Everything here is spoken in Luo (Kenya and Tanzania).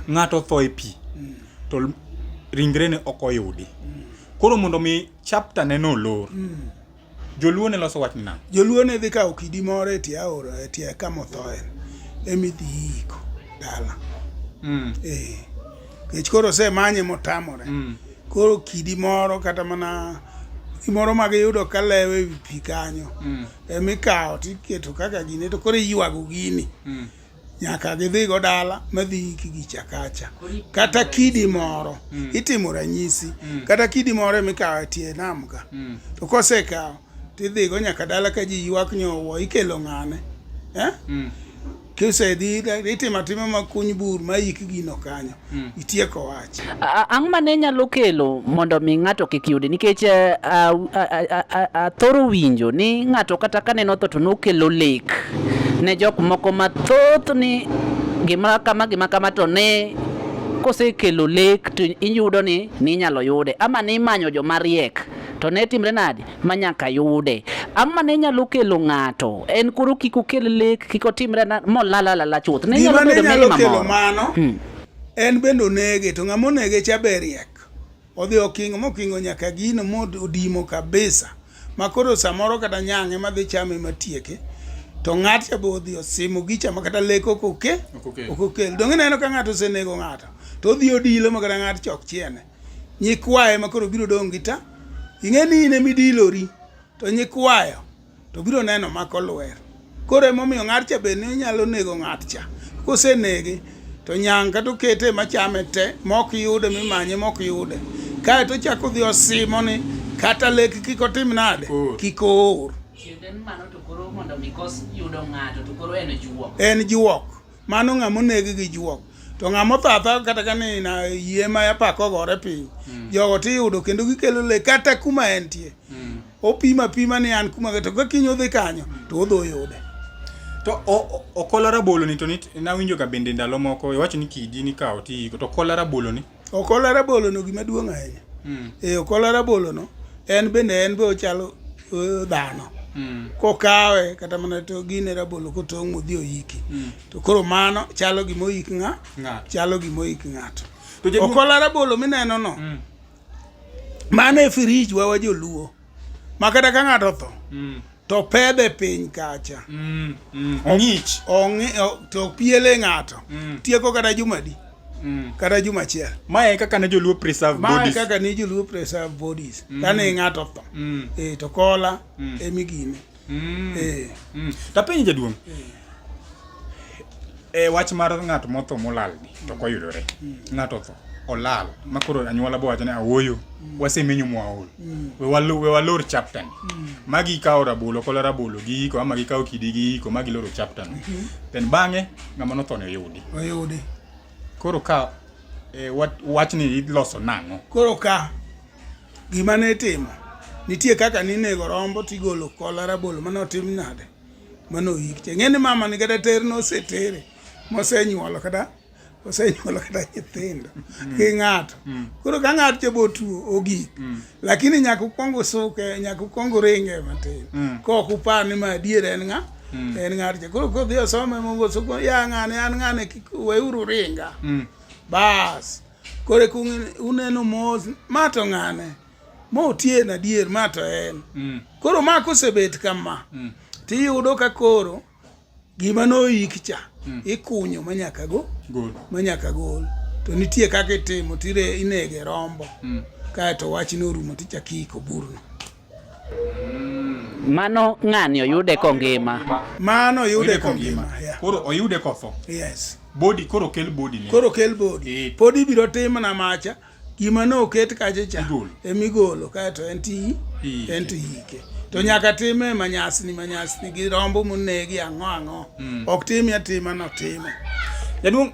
Ng'ato otho e pi mm. to ringrene ok oyudi. Mm. Koro mondo mi chapter ne no lor. Mm. Joluo ne loso wach nina. Joluo ne dhi kawo kidi moro e tie aora e tie kama othoe emi dhi yiko dala. Mm. Eh. Kech koro se manye motamore. Mm. Koro kidi moro kata mana gimoro ma giyudo ka lewo e wi pi kanyo mm. emi kawo tiketo kaka gine to koro iywago gini mm. nyaka gidhigo dala madhi iki gi chakacha kata kidi moro mm. itimo ranyisi mm. kata kidi moro mikawo tie nam ka mm. to kosekawo tidhigo nyaka dala ka ji ywak nyowo ikelo ng'ane eh? mm. kisedhi itimo atima makuny bur mayik gino kanyo Hmm. Itieko wach. Ang'o ma ne nyalo kelo mondo mi ng'ato kik yudi? Nikech eh, athoro winjo ni ng'ato kata ka neno tho to nokelo lek ne jok moko mathoth ni gima kama gima kama to ne kosekelo lek to iyudo ni ninyalo yude ama nimanyo joma riek to ne timre nadi ma nyaka yude. Ang'o ma ne nyalo kelo ng'ato? En koro kik okel lek, kik otimre molalalala chuth. Ne nyalo bedo meli mamoro. Mano, hmm. En bende onege, to ng'ama onege cha be riek. Odhi okingo mokingo nyaka gino modimo kabisa. Ma koro samoro kata nyang'e ma dhi chame matieke. To ng'at cha be odhi osimo gicha ma kata lek ok oke, ok okel. Donge neno ka ng'ato osenego ng'ato, to odhi odilo ma kata ng'at chok chiene. nyikwaye ma koro biro dong' gi ta ing'e ni in emidilori to nyikwayo to biro neno mako lwer koro emomiyo ng'at cha bende onyalo nego ng'at cha kosenege to nyang' kata okete machame te mok yude mimanye mok yude kae to chako dhi osimo ni kata lek kik otim nade kik oor en juok mano ng'a moneg gi juok to ng'a motho atha kata ka ni na yie ma apaka ogore piny mm. jogo to iyudo kendo gikelo le kata kuma entie mm. opima pima ni an kuma to ka kiny odhi kanyo to odho yude to okola rabolo ni to nawinjo ka bende ndalo moko iwacho ni kidi nikawo ti to okola rabolo ni Okola rabolo no gima duong' ahinya. Mm. E okola rabolo no en bende en be ochalo uh, dhano. Mm. Kokawe kata mana to gine rabolo kotong' odhi oyiki. Mm. To koro mano chalo gima oyik ng'a? Ng'ato. Chalo gima oyik ng'ato. Okola rabolo mineno no. Mm. Mano e firij wa wajoluo. ma kata ka ng'ato otho mm. to pedhe piny kacha mm, mm. ong'ich to piele ng'ato mm. tieko kata jumadi mm. kata juma achiel ma e kaka ne joluo preserve ma e bodies kaka ne joluo preserve bodies mm. kane ng'ato otho mm. e to kola mm. e migine Mm. Eh. Mm. Tapenji jaduong'. Mm. E wach mar ng'at motho molal ni to mm. koyudore. Mm. Ng'ato otho olal ma koro anyuola bo wacho ni awoyo mm. wasemenyo mwaol mm. we walu we walor chapter ni mm. magi kawo rabolo kola rabolo gi iko ama gi kawo kidi gi iko magi loro chapter ni mm-hmm. then bang'e ng'ama nothone oyudi oyudi koro ka e, wach ni iloso nang'o koro ka Gima ne itimo, nitie kaka ninego rombo tigolo kola rabolo mane otim nade mane oyik che ng'e ni mama ni kata ter nosetere mosenyuolo kata osenyuolo kata nyithindo mm. gi ng'ato mm. koro ka ng'ato cha botuo ogik mm. lakini nyaka ukwong usuke nyaka ukwong uringe matin kok upar ni ma adier en ng'a en ng'ato cha koro kodhi osome mogosuko ya ng'ane an ng'ane kik weuru ringa bas Kore kung uneno mos ma to ng'ane motie na dier ma to en. Mm. Koro ma kosebet kama. Mm. Tiyudo ka koro gima noik cha mm. ikunyo manyaka go gol manyaka gol to nitie kaka itimo tire inege rombo mm. kae to wachne orumo tichakiko burno Mano ng'ani oyude kongima. Mano oyude kongima. Koro oyude kotho. Yes. Body koro kel body ne. Koro kel body. E. Pod ibiro tim na macha gima ne oket kacha cha emigolo kaeto en ti en to yike to nyaka time manyasni manyasni gi rombo monegi ang'o ang'o mm. ok time atima notime jaduong'